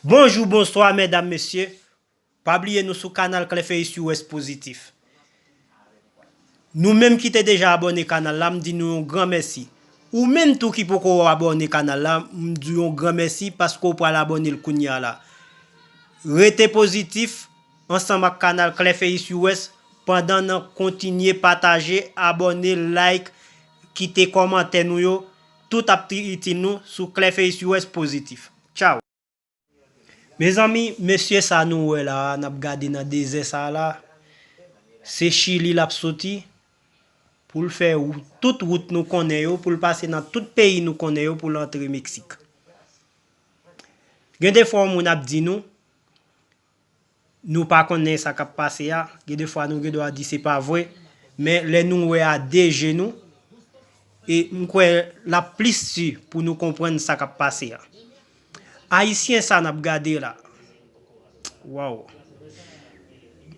Bonjou bonswa mèdam mesye pa bliye nou sou kanal clefeus us positif nou menm ki te deja abòne kanal la m di nou yon gran mèsi ou menm tou ki poko abòne kanal la m di w yon gran mèsi paske w pral abòne l kounya la rete positif ansanm ak kanal clefeus us pandan nan kontinye pataje abòne like kite kòmantè nou yo Tout ap triti nou sou clefface us positif. Tchao. Mezanmi mesye sa nou wè la a nap gade nan dezè sa a la a se chili lap soti poul fè tout wout nou konnen yo poul pase nan tout peyi nou konnen yo poul antre mexique gen de fwa yon moun ap di nou Nou pa konnen sa k ap pase a, gen de fwa nou gen dwa di se pa vre, men lè nou wè a de je nou, e m kwè l ap plis di pou nou konprann sa k ap pase a. Ayisyen sa n ap gade la, waww!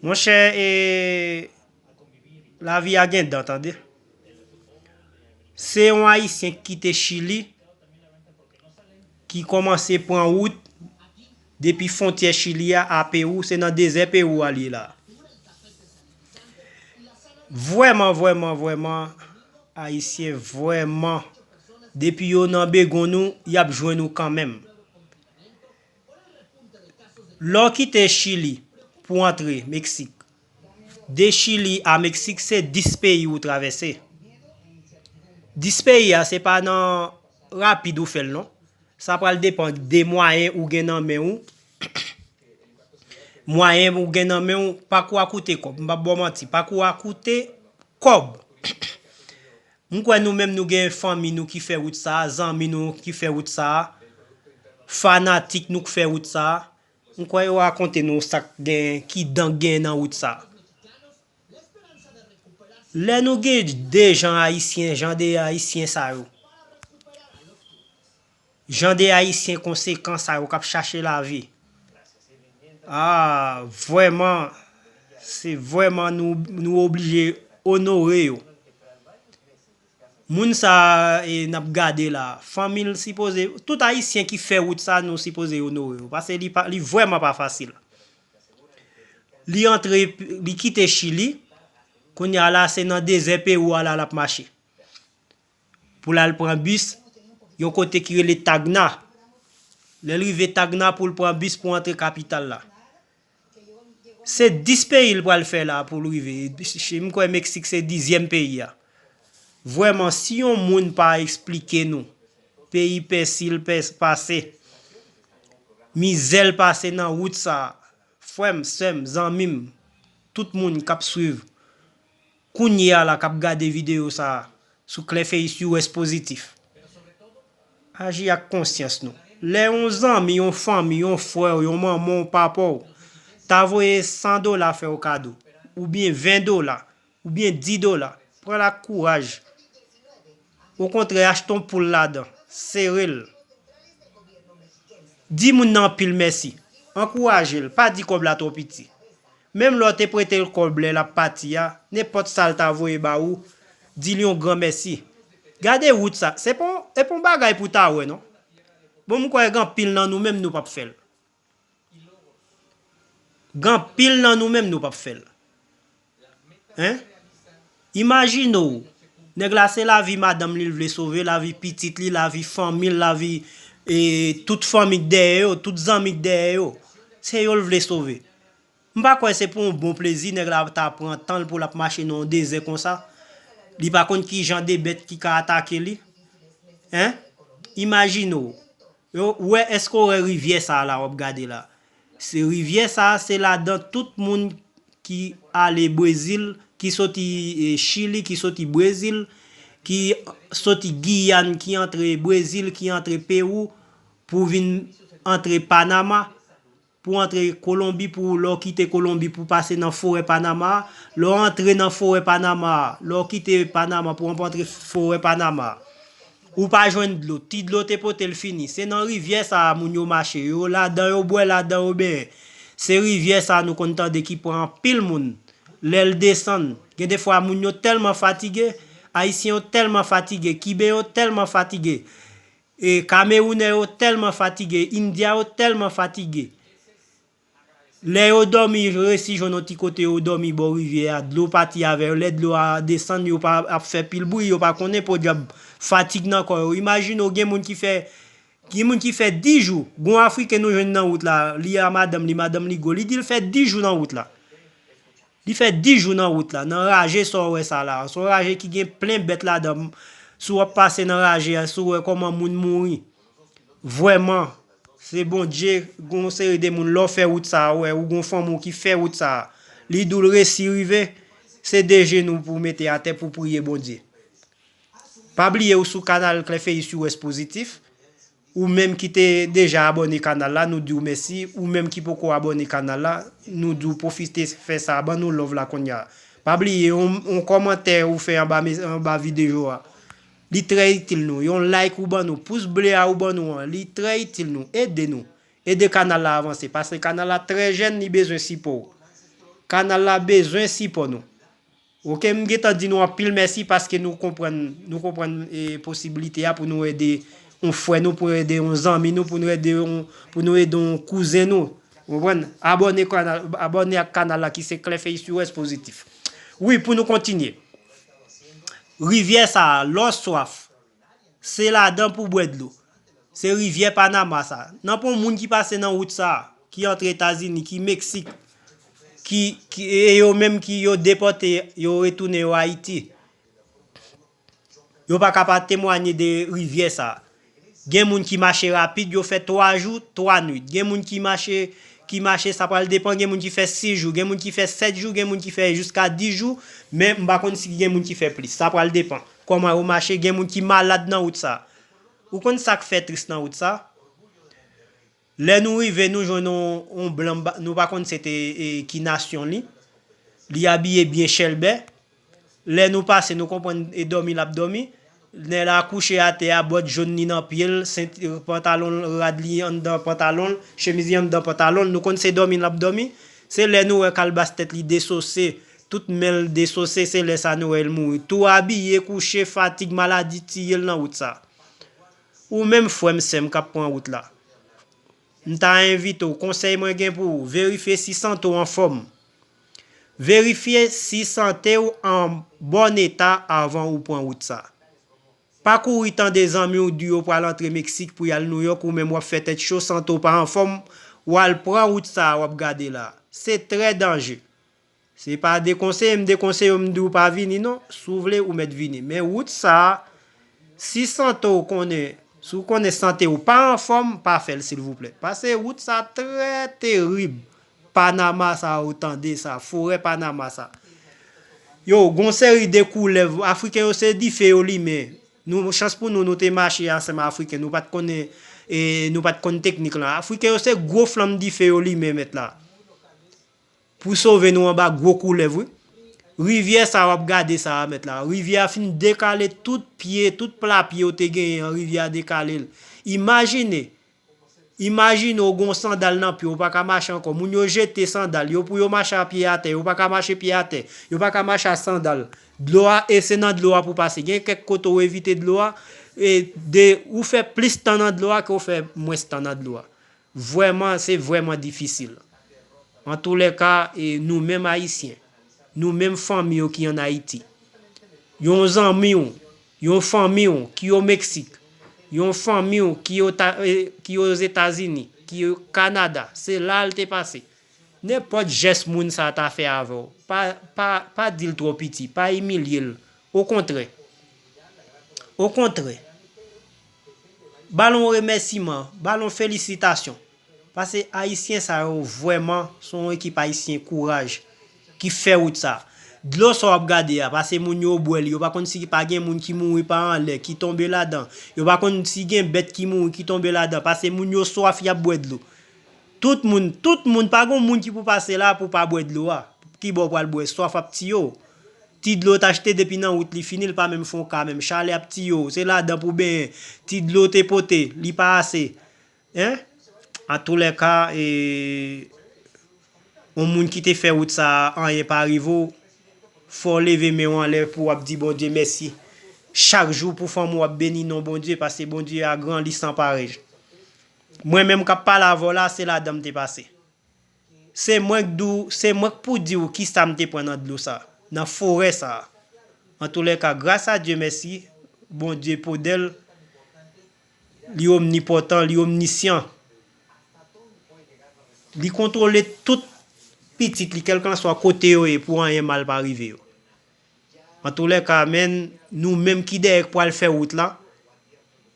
Monchè e lavi a gen dan tande. Se yon Ayisyen ki kite Chili, ki kòmanse pran wout Depi fontyè chili a a perou se nan dezè perou a li ye la. Vrèman vrèman vrèman ayisyen vrèman depi yo nan begonn ou yap jwenn ou kanmenm. Lè w kite chili pou antre meksik. De chili a meksik se 10 peyi ou travèse. 10 peyi a se pa nan rapid ou fèl non. Sa pral depan de mwayen ou gen nan men ou. Mwayen ou gen nan men ou, pakou a koute kòb. M pap baw manti, pakou a koute kòb. M kwè nou menm nou gen fanmi nou ki fè wout sa, zanmi nou ki fè wout sa, fanatik nou k fè wout sa. M kwè yo rakonte nou sak gen ki dan gen nan wout sa. Lè nou gen de jan ayisyen jan de ayisyen sa yo. Jan de ayisyen konsekan sa yo kap chache lavi. Aa vwèman se vwèman nou oblije onore yo. Moun sa e nap gade la fanmil sipoze tout ayisyen ki fè wout sa nou sipoze onore yo pase li pa li vrèman pa fasil li antre li kite chili kounya la se nan dezè perou a la lap mache pou lal pran bis yon kote ki rele tagna lèl rive tagna poul pran bis pou antre kapital la Se 10 peyi l pral fè la poul rive, m kwè Meksik se dizyèm peyi a. Vrèman si yon moun pa esplike nou peyi pèsi l pase, mizè l pase nan wout sa, frè m, sè m, zanmi m, tout moun kap swiv. Kounye a la kap gade video sa a sou Clefeus US Positif. Aji ak konsyans nou. Lè yon zanmi, yon fanmi, yon frè w, yon manman w, papa w, ta voye 100 dola fè w kado, oubyen 20 dola, oubyen 10 dola, pran l ak kouraj. Okontrè achte yon poul ladan, sere l. Di moun nan anpil mèsi. Ankouraje l, pa di kòb la twò piti. Menm lè w te prete l kòb lè l ap pati a, nenpòt sa l ta voye ba ou, di l yon gran mèsi. Gade wout sa, se pa yon bagay pou w ta wè non. Bon m kwè gen anpil nan nou menm nou p ap fè l. Gen anpil nan nou menm nou pap fèl hein imajine w nèg la se lavi madanm li l vle sove lavi pitit li lavi fanmi l lavi tout fanmi k dèyè yo tout zanmi k dèyè yo se yo l vle sove m pa kwè se pou yon bon plezi nèg la ta pran tan l pou lap mache nan yon dezè konsa li pa konn kijan de bèt ki ka atake li hein imajine w Ou wè eske ou wè rivyè sa la wap gade la se rivyè sa se ladan tout moun ki ale brezil ki soti chili ki soti brezil ki soti giyàn ki antre brezil ki antre perou pou vin antre panama Pou antre Kolonbi pou lè w kite Kolonbi pou pase nan forè Panama, lè w antre nan forè Panama, lè w kite Panama pou antre forè Panama. Ou pa jwenn dlo, ti dlo te pote l fini. Se nan rivyè sa a moun yo mache, yo ladan yo bwè, ladan yo benyen. Se rivyè sa a nou konn tande ki pran anpil moun lè l desann. Gen de fwa moun yo tèlman fatige, Ayisyen yo tèlman fatige, Kiben yo tèlman fatige, Kamerounè yo tèlman fatige, Indya yo tèlman fatige, lè yo dòmi yo resi jwenn yon ti kote yo dòmi bò rivyè a, dlo pati avè yo, lè dlo a desann yo pa ap fè pil bri, yo pa konnen podyab fatig nan kò yo. Imajine w gen moun ki fè, gen moun ki fè 10 jou, gen yon afriken nou jwenn nan wout la, li a madanm li, madanm li gwo, li di l fè 10 jou nan wout la. Li fè 10 jou nan wout la, nan raje sa w wè sa la a, s on raje ki gen plen bèt ladan m, si w ap pase nan raje a, si w wè kòman moun mouri, vrèman, se Bondye, gen yon seri de moun, lè w fè wout sa a, wè, ou gen yon fanmi w ki fè wout sa a, li di w l resi rive, se 2 jenou pou w mete atè pou w priye Bondye. Pa bliye ou sou kanal Klèfeyi Siwès Pozitif. Ou menm ki te deja abòne kanal la nou diw mèsi ou menm ki poko abòne kanal la nou diw pwofite fè sa ban nou love la konnya pa bliye yon kòmantè ou fè anba videyo a li trè itil nou yon like ou ban nou pous ble a ou ban nou an li trè itil nou ede nou ede kanal la avanse paske kanal la trè jèn li bezwen sipòw kanal la bezwen sipò nou Ok m gentan di nou anpil mèsi paske nou konprann nou konprann posibilite a pou nou ede yon frè nou pou ede yon zanmi nou pou nou ede yon pou nou ede yon kouzen nou ou konprann abòne kanal abòne ak kanal la ki se clefey sur S positif wi pou nou kontinye rivyè sa lò swaf. Se ladan pou bwè dlo. Se rivyè Panama sa. Nan pon moun ki pase nan wout sa, ki antre Etazini, ki Meksik, ki, ki, e yo menm ki yo depòte yo retounen yo Ayiti. Yo pa ka pa temwanye de rivyè sa. Gen moun ki mache rapid, yo fè 3 jou, 3 nwit. Gen moun ki mache, ki mache sa pral depan, gen moun ki fè 6 jou, gen moun ki fè 7 jou, gen moun ki fè jiska 10 jou, men m pa konn si gen moun ki fè plis. Sa pral depan. Koman yo mache gen moun ki malad nan wout sa. Ou konn sak fè tris nan wout sa? Lè nou rive nou jwenn yon blan nou pa konn se te ki nasyon li. Li abiye byen chèlbè. Lè nou pase nou konprann e dòmi lap dòmi. Nèg la kouche atè a bòt jón li nan pye l, senti pantalon l rad li anndan pantalon l, chemiz li anndan pantalon l nou konn se dòmi lap dòmi. Se lè nou wè kalbas tèt li desose Tout menl desose se lè sa Noël mouri tou abiye kouche fatig maladi tiyel nan wout sa Ou menm frèm sèm kap pran wout la m ta envite w konsèy mwen gen pou ou verifye si sante w anfòm verifye si sante w an bòn eta avan ou pran wout sa pa kouri tande zanmi w di yo pral antre Mexique pou yal Nouyòk ou menm wap fè tèt cho sante w pa anfòm wal pran wout sa wap gade la se trè danje. Se pa dekonseye m dekonseye w m di w pa vini non, si w vle ou mèt vini men wout sa si sante w konnen si w konnen sante w pa anfòm pa fè l silvouplè pase wout sa trè terib panama sa ou tande sa forè panama sa yo gon seri de koulèv afriken yo se dife yo limen nou chans pou nou nou te mache ansanm afriken nou pat konnen nou pat konn teknik lan afriken yo se gwo flanm dife yo limen mèt la. Pou sove nou anba gwo koulèv wi. Rivyè sa wap gade sa a mèt la, rivyè a fin dekale tout pye, tout pla pye ou te genyen an rivyè a dekale l. Imajine, imajine ou gen yon sandal nan pye w ou pa ka mache ankò, moun yo jete sandal yo pou yo mache a pye atè, yo pa ka mache pye atè, yo pa ka mache a sandal. Dlo a, e se nan dlo a pou pase. Gen kèk kote ou evite dlo a, e de ou fè plis tan nan dlo a ke ou fè mwens tan nan dlo a. Vwèman se vwèman difisil. Antoulèka e nou menm ayisyen, nou menm fanmi yo ki an Ayiti, yon zanmi w, yon fanmi w ki o Meksik, yon fanmi w ki o ta e ki o Zetazini, ki o Kanada, se la a l te pase. Nenpòt jès moun sa a ta fè avè w, pa pa pa di l twò piti, pa imilye l, okontrè. Okontrè. Balon remèsiman, balon felisitasyon. Pase ayisyen sa yo vwèman son yon ekip ayisyen kouraj ki fè wout sa. Dlo sa wap gade a, pase moun yo bwè li, yo pa konn si pa gen moun ki mouri pa anlè, ki tonbe ladan, yo pa konn si gen bèt ki mouri ki tonbe ladan, pase moun yo swaf yap bwè dlo. Tout moun, tout moun, pa gon moun ki pou pase la pou pa bwè dlo a. Kibò ou pral bwè, swaf ap tiye w. Ti dlo w t achte depi nan wout li fini l pa menm fè yon ka menm chale ap tiye w se ladan pou w benyen ti dlo w te pote li pa ase hein atoulèka yon moun ki te fè wout sa anyen pa rive w fò w leve men w anlè pou w ap di Bondye mèsi chak jou pou fanm ou ap beni non Bondye paske Bondye a gran li san parèy mwen menm k ap pale avè w la se ladan m te pase. Se mwen k di w, se mwen k pou di w kisa m te pran nan dlo sa, nan forè sa. Antoulèka, gras a Dye mèsi, Bondye podèl, li omnipòtan, li omnisyan. Li kontwole tout pitit li kèlkanswa kote yo ye pou anyen mal pa rive yo. Antoulèka amen nou menm ki dèyè k pwal fè wout la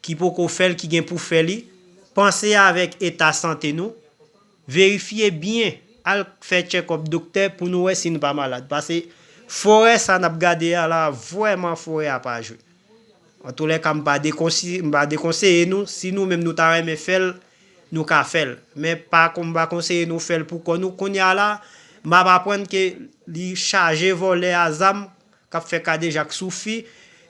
ki poko fèl ki gen pou fè li panse avèk eta sante nou verifye byen al k fè tchèkòp doktè pou nou wè si nou pa malad pase forè sa nap gade a la vrèman forè a pa jwe antoulèka m pa dekonseye nou si nou menm nou ta renmen fèl nou ka fèl men pa mpa konseye nou fèl pou kò nou kounya la map aprann ke li chaje vòlè a zam kap fè kadejak sou fi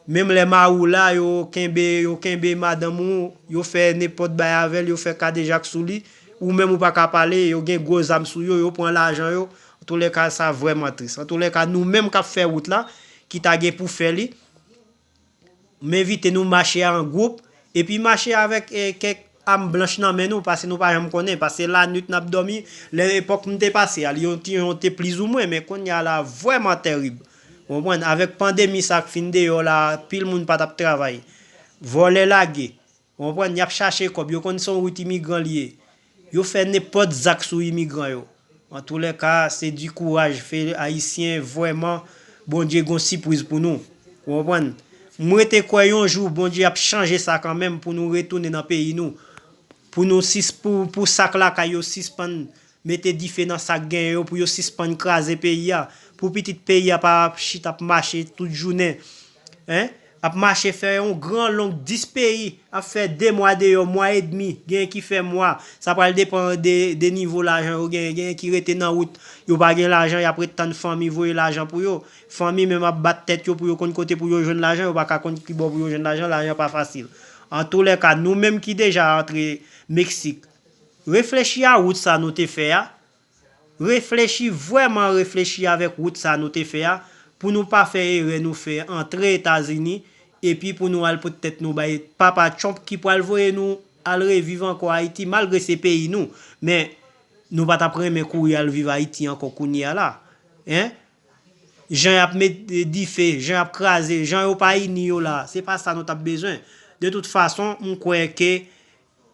menm lè mari w la yo kenbe yo kenbe madanm ou yo fè nenpòt bay avèl yo fè kadejak sou li ou menm ou paka pale yo gen gwo zam sou yo yo pran lajan yo antoulèka sa vrèman tris antoulèka nou menm kap fè wout la ki ta gen pou fè li M envite nou mache an gwoup, epi mache avèk kèk am blanch nan men nou, pase nou pa janm konnen, pase lanwit n ap dòmi, lè epòk m te pase a, Lyon te plizoumwen, men kounye a la vrèman tèrib. Ou konprann? Avèk pandemi sa k fin deyò la a, pil moun pa t ap travay. Vòlè lage. Ou konprann, y ap chache kòb, yo konn se yon wout imigran li ye. Yo fè nenpòt zak sou imigran yo. Antoulèka, se di kouraj fè Ayisyen vrèman Bondye gen yon sipwiz pou nou. Ou konprann? M rete kwè yon jou Bondye ap chanje sa kanmenm pou nou retounen nan peyi nou. Pou nou sis pou pou sak lakay yo sispann Mete dife nan sak genyen yo pou yo sispann kraze peyi a. Pou pitit peyi a pa ap chita ap mache tout jounen. Hein. Ap mache fè yon gran long 10 peyi ap fè 2 mwa deyò, mwa edmi, genyen ki fè mwa. Sa pral depan de nivo lajan yo genyen. Genyen ki rete nan wout, yo pa gen lajan y ap ret tann fanmi voye lajan pou yo. Fanmi menm ap bat tèt yo pou yo konn kote pou yo jwenn lajan, yo pa ka konn kibò pou yo jwenn lajan, lajan pa fasil. Antoulèka, nou menm ki deja antre Meksik, Reflechi a wout sa nou te fè a, reflechi vwèman reflechi avèk wout sa nou te fè a pou nou pa fè erè nou fè antre etazini epi pou nou al pot tèt nou bay papa trump ki pwal voye nou al reviv ankò ayiti malgre se peyi nou men nou pa tap renmen kouri al viv ayiti ankò kounye a la hein jan yap met dife jan yap kraze jan yo pa ini yo la se pa sa nou tap bezwen de tout fason m kwè ke